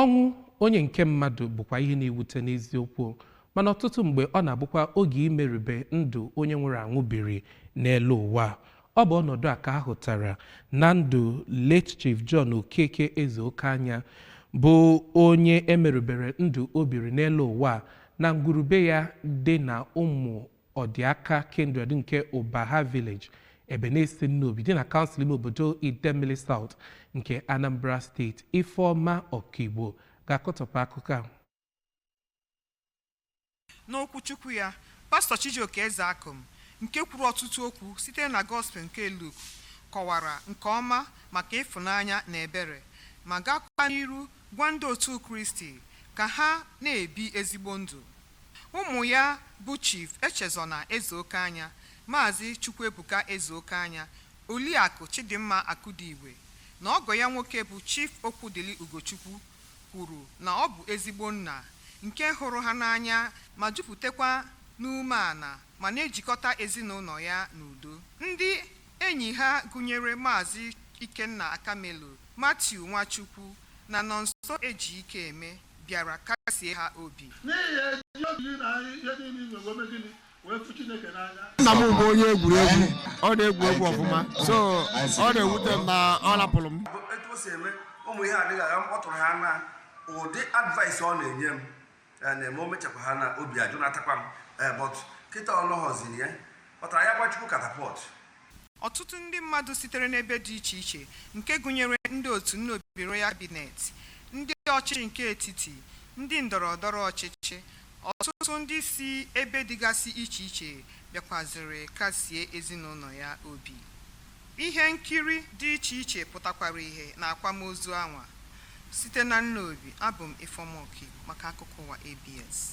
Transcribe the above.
ọnwụ onye nke mmadụ bụkwa ihe na-ewute n'eziokwu mana ọtụtụ mgbe ọ na-abụkwa oge imerube ndụ onye nwụrụ anwụ biri n'elu ụwa ọ bụ ọnọdụ a ka a hụtara na ndụ late chief John Okeke Ezeokeanya bụ onye e merubere ndụ o biri n'elu ụwa na ngwurube ya dị na ụmụ Ọdịaka Kindred nke Ụbaha Village, Ebenesi Nnobi dị na kansụl ime obodo Idemmili South nke Anambra steeti Ifeọma Ọkigbo ga-akọtọpụ akụkọ ahụ. N'okwuchukwu ya, Pastọ Chijioke Ezeakum nke kwuru ọtụtụ okwu site na Gospel nke Luk kọwara nke ọma maka ịfụnanya na ebere ma gakwaa n'iru gwa ndị otu Kristi ka ha na-ebi ezigbo ndụ. Ụmụ ya bụ Chief Echezona Ezeokeanya, Maazị Chukwuebuka Ezeokeanya, Oliakụ Chidimma Akudigwe na ọgọ ya nwoke bụ Chief Okwudili Ugochukwu kwuru na ọ bụ ezigbo nna nke hụrụ ha n'anya ma juputekwa n'umeala ma na-ejikọta ezinụlọ ya n'udo. Ndị Enyi ha gụnyere Maazị Ikenna Akamelu, Matthew Nwachukwu na Nonso Ejikeme bịara kasie ha obi. N'ihi ya, eji obi gị na ihe niile i nwere wee mee gịnị? Wee fụ Chineke n'anya. nna m bụ onye egwuregwu ọ na-egwu egwu ọfụma so ọ na-ewute m na ọ rapụrụ m bụ etu o si eme ụmụ ihe adịghị agha m ọ tụrụ ha na ụdị advice ọ na-enye m ya na-eme o mechakwa ha na obi ajụ na-atakwa m ee eh, bọt kịta ọlọghọziri ya kpatara ya gba Chukwu katapọt ọtụtụ ndị mmadụ sitere n'ebe dị iche iche nke gụnyere ndị otu Nnobi Royal Cabinet ndị ọchịchị nke etiti ndị ndọrọ ndọrọ ọchịchị ọtụtụ ndị si ebe dịgasị iche iche bịakwaziri kasie ezinụlọ ya obi Ihe nkiri dị iche iche pụtakwara ihe na akwamozu anwa. Site na Nnobi, abụ m Ifeoma Okigbo maka Akụkọ Ụwa ABS.